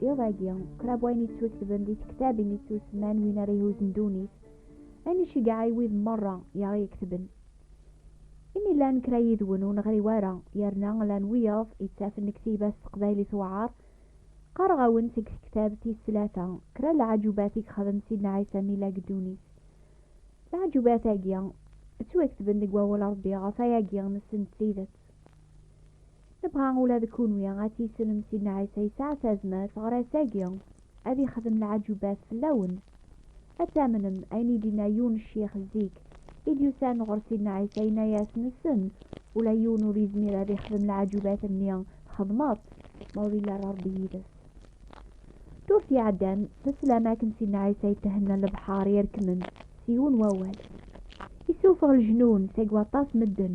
Iḍ agi, qrab wayen yettwaketben di tektabin yettusemman win ara ihuzen ddunit, ayen iceggeɛ i wid merra i aɣ-iketben. Imi llan kra yid-wen ur neɣri wara, yerna llan wiyaḍ yettafen lektiba s teqbaylit tewɛer, qqareɣ-awen seg tektabt tis tlata kra n leɛǧubat i yexdem Sidna Ɛisa mi yella deg ddunit. Leɛǧubat-agi ttwaketben deg Wawal Rebbi, ɣef wayagi nessen-d tidet. Nebɣa ula d kunwi ad tissnem Sidna Ɛisa yesɛa tazmert ɣer ass-agi ad ixdem leɛǧubat fell-awen. Ad tamnem ayen i d-inna yiwen n ccix zik i d-yusan ɣer Sidna Ɛisa yenna-yas nessen ula yiwen ur yezmir ad ixdem leɛǧubat-nni txedmeḍ ma ur yelli ara Rebbi yid-s. Durt iɛeddan teslam akken Sidna Ɛisa yethenna lebḥar yerkmen s yiwen wawal. Yessufeɣ leǧnun seg waṭas medden.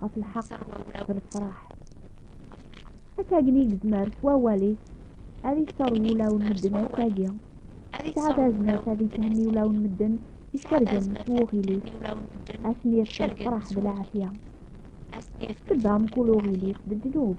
ɣef lḥeqq d lefraḥ. Akkagen i yezmer s wawal-is ad iṣer wulaw n medden ass-agi, yesɛa tazmert ad ithenni ulaw n medden icergen s wuɣil-is, ad ten-yerr s lefraḥ d lɛafya. Tebba mkul uɣil-is d ddnub.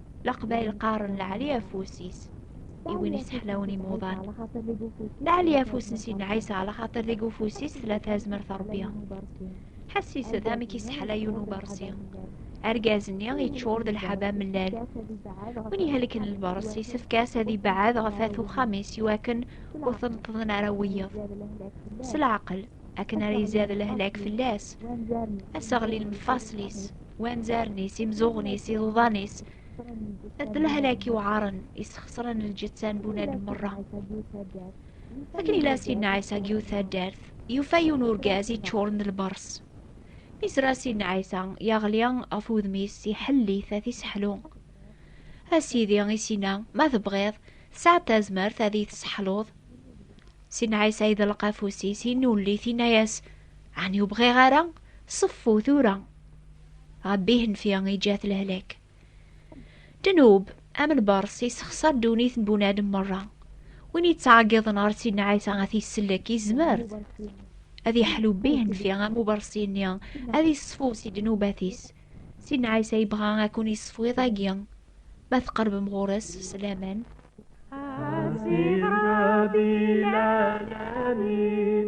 Leqbayel qqaren leɛli afus-is i win yesseḥlawen imuḍan. Leɛli afus n Sidna Ɛisa ɛla xaṭer deg ufus-is tella tazmert Rebbi. Ḥessis-d amek yesseḥla yiwen ubersi. Argaz-nni yeččur d lḥaba mellal. Win ihelken lbers yessefk-as ad ibɛed ɣef at uxxam-is iwakken ur t-neṭṭḍen ara wiyeḍ. S leɛqel akken ara izad lehlak fell-as. Aseɣlil mfaṣel-is. wanzaren-is, imzuɣen-is, iḍuḍan-is, d lehlak iwɛaren isxesren lǧetta n bunadem merra. Akken ila Sidna Ɛisa deg yiwet taddart, yufa yiwen urgaz iččuren d lbers. Mi yezra Sidna Ɛisa, yeɣli ɣef wudem-is, iḥelli-t ad t-iseḥlu. A Sidi, i s-yenna, ma tebɣiḍ, tesɛiḍ tazmert ad iyi-tesseḥluḍ. Sidna Ɛisa yeḍleq afus-is, yennulli-t, yenna-yas, Ɛni ur bɣiɣ ara? Ṣeffu tura! Ṛebbi ihenfi iǧǧa-t lehlak. Ddnub, am lbeṛs, yessexṣar ddunit n bunadem meṛṛa. Win yettɛeggiḍen ɣer Sidna Ɛisa ad t-yessellek, yezmer ad yeḥlu bi ihenfi am ubeṛsi-nni, ad yeṣfu si ddnubat-is. Sidna Ɛisa yebɣa ad kun-yeṣfu iḍ-agi, ma tqeṛbem ɣur-s s laman. A Sidi Ṛebbi lɛalamin,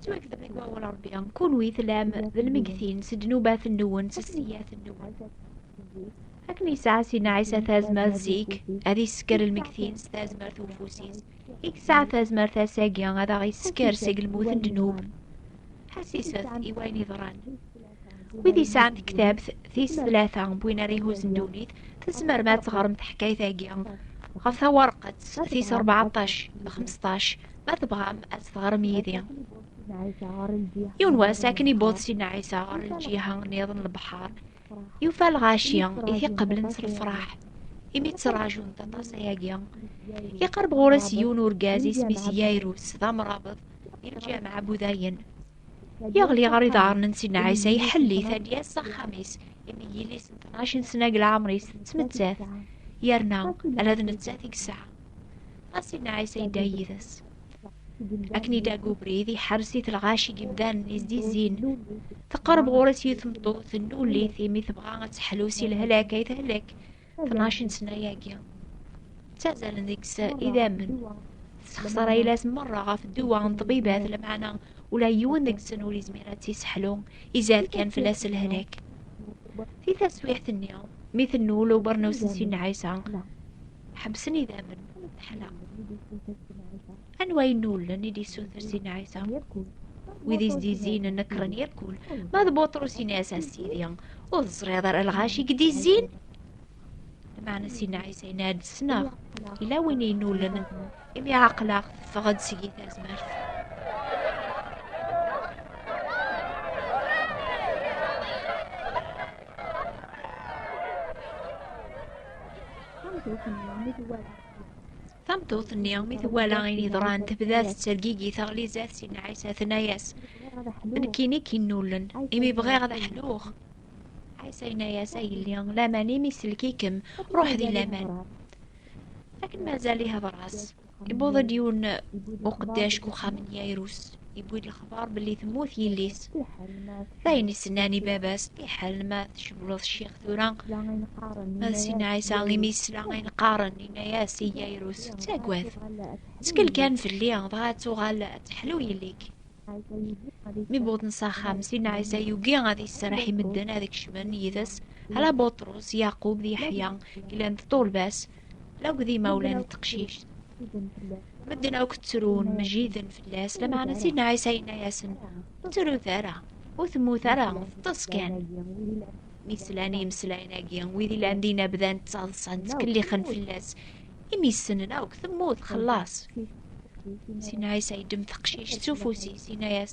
Ttwakdeb deg wawal Ṛebbi, kunwi tellam d lmegtin s ddnubat-nwen, s sseyyiat-nwen. Akken yesɛa Sina Ɛisa tazmert zik, ad isker lmegtin s tazmert ufus-is, i yesɛa tazmert ass-agi ad aɣ-isker seg lmut n ddnub. Ḥassiset i wayen yeḍran. wid yesɛan tektabt tis tlata win ara ihuzen ddunit tzemrem ad teɣrem taḥkayt-agi ɣef tawerqet tis rbeɛṭac d xmesṭac ma tebɣam ad teɣrem yid-i yiwen wass akken ibuḍ sidna ɛisa ɣer lǧiha niḍen lebḥer yufa lɣaci i t-iqeblen s lefraḥ imi ttraǧun aṭas ayagi iqerb ɣur-as yiwen urgaz isem-is yayrus d amrabeḍ i lǧameɛ budayen Yeɣli ɣer iḍarren n Sidna Ɛisa iḥelli-t ad yas s axxam-is imi yelli-s n tnac n sna deg leɛmer-is tettmettat yerna ala d nettat i yesɛa. Ɣas Sidna Ɛisa yedda yid-s. Akken i dagg ubrid iḥers-it lɣaci n yimdanen izdizzin. Teqreb ɣur-s yiwet tmeṭṭut n ullit imi tebɣa ad teḥlu si lehlak ay tehlek 12 سنة-agi ttazzalen deg-s idammen tesxeṣar ayla-s merra ɣef dduwa n ṭṭbibat lemɛana ula yiwen deg-sen ur yezmir ad tt-isseḥlu izad kan fell-as lehlak di taswiɛt-nni mi tennul ubernaw-s n Sidna Ɛisa ḥebsen idammen teḥla Anwa i nullen i d-issuter Sidna Ɛisa? Wid i s-d-izzin nekkren yekkul. Ma d Buṭrus in-as a Sidi, ur teẓriḍ ara lɣaci i d-izzin? Lmeɛna Sidna Ɛisa yenna-d ssneɣ, yella win i nullen, imi ɛaqleɣ teffeɣ-d seg-i tazmert. Tameṭṭut-nni mi twala ayen yeḍran tebda tettergigi taɣlizat si Ɛisa tenna-yas nekkini k-innullen imi bɣiɣ ad ḥluɣ Ɛisa yenna-yas a yelli laman imi sellek-ikem ruḥ di laman akken mazal ihḍer-as iwweḍ-d yiwen uqeddac deg uxxam n Yayrus yewwi-d lexbar belli temmut yelli-s ayen isennan i baba-s iḥal ma tcewleḍ ccix tura ma d sin ɛisa imi yesla ayen qqaren yenna-as i yayrus ttagad ttkel kan fell-i dɣa ad tuɣal ad teḥlu yelli-k mi wwḍen s axxam sin ɛisa yugi ad yesserreḥ i medden ad kecmen yid-s ala buṭrus yaqub d yeḥya glant ṭṭulba-s Lagu d imawlan n teqcict. Medden akk ttrun, mejjiden fell-as, lameɛna Sidna Ɛisa yenna-yasen, ur ttrut ara, ur temmut ara, teṭṭes kan. Mi slan imeslayen-agi, wid ilan dinna bdan ttaḍsan, ttkellixen fell-as, imi ssnen akk temmut, xellaṣ. Sidna Ɛisa yeddem teqcict s ufus-is, yenna-yas,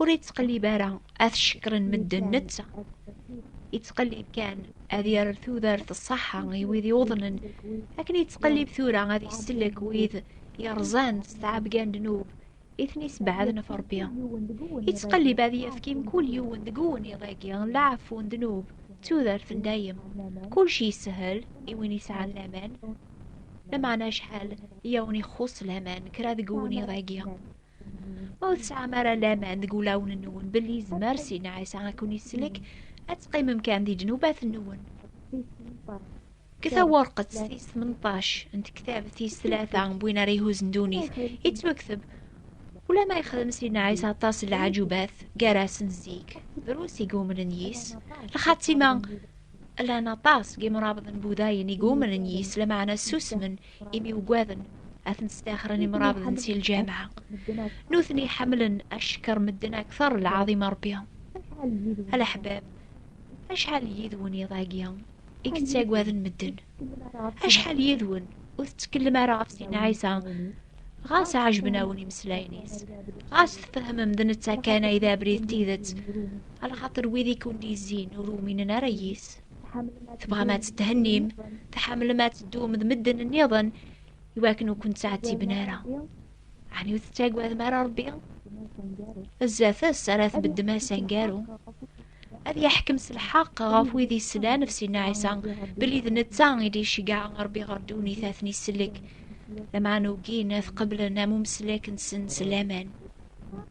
ur yettqellib ara ad cekkren medden netta yettqellib kan ad yerr tudert ṣṣaḥa i wid yuḍnen akken yettqellib tura ad isellek wid yerẓan s tɛebga n ddnub i ten-isebɛaden ɣef Rebbi yettqellib ad yefk i mkul yiwen deg uwennid-agi n leɛfu n ddnub d tudert n dayem kulec yeshel i win yesɛan laman lameɛna acḥal i awen-ixuṣṣ laman kra deg uwennid-agi Ur tesɛam ara laman deg wulawen-nwen belli yezmer sin Ɛisa ad ken-isellek ad teqqimem kan di ddnubat-nwen. Deg tawerqet tis tmenṭac n tektab tis tlata n win ara ihuzzen ddunit, yettwakteb Ula ma yexdem sin Ɛisa aṭas n leɛǧubat gar-asen zik, drus i yumnen yis, lxatima llan aṭas n yimrabḍen budayen i yumnen yis, lameɛna ssusmen imi ugaden ad ten-staxren imrabḍen si lǧameɛ. Nutni ḥemmlen ackeṛ medden akteṛ lɛaḍima Ṛebbi. A leḥbab, acḥal n yid-wen iḍ-agi i yettagaden medden? Acḥal yid-wen ur tettkellem ara ɣef Sidna Ɛisa ɣas ɛejben-awen imeslayen-is, ɣas tfehmem d netta kan ay d abrid d tidet, a lxaṭer wid i ken-d-yezzin ur uminen ara yis. tebɣam ad tetthennim tḥemmlem ad teddum d medden nniḍen iwakken ur kent-ttɛettiben ara ɛni ur tettagadem ara rebbi zdat-s ara tbeddem ass angaru ad yeḥkem s lḥeqq ɣef wid yeslan ɣef Sidna Ɛisa belli d netta i d-iceggeɛ Ṛebbi ɣer ddunit ad ten-isellek lameɛna ugin ad qeblen am umeslek-nsen s laman.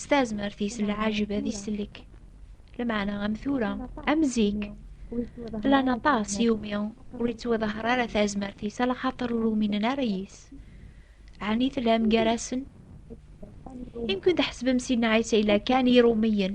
s tazmert-is lɛajeb ad isellek lmeɛna am tura am zik llan aṭas iwumi ur yettwaḍahar ara tazmert-is ala xaṭer ur uminen ara yis ɛni tellam gar-asen imkun tḥesbem sidna ɛisa ila kan irumiyen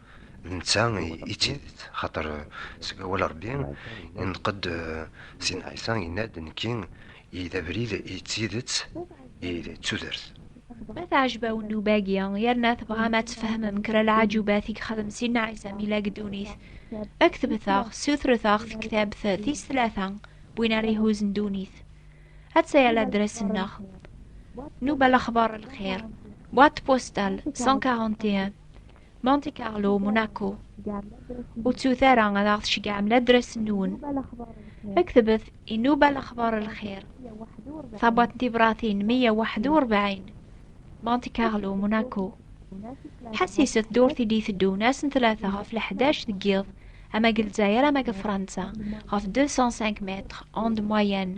d netta i d tidet, xaṭer seg awal Ṛebbi ineṭq-d Sidna Ɛisa yenna-d, Nekki i d abrid i d tidet i d tudert. Ma teɛjeb-awen nnuba-agi, yerna tebɣam ad tfehmem kra leɛǧubat i yexdem Sidna Ɛisa mi yella deg ddunit, ktbet-aɣ, ssutret-aɣ tektabt tis tlata n win ara ihuzzen ddunit. Atta-ya ladres-nneɣ, Nnuba Lexbar Lxir, boîte postale 141, Monte Carlo, Monaco. Ur ttut ara ad aɣ-tceggɛem ladras-nwen. Ktebet Inuba Lexbar Lxir, tabwaḍt n tibratin 141, Monte Carlo, Monaco. Ḥassiset durt i d-iteddun ass n tlata ɣef leḥdac deg yiḍ, ama deg Lezzayer ama deg Fransa, ɣef 205 mètres, onde moyenne,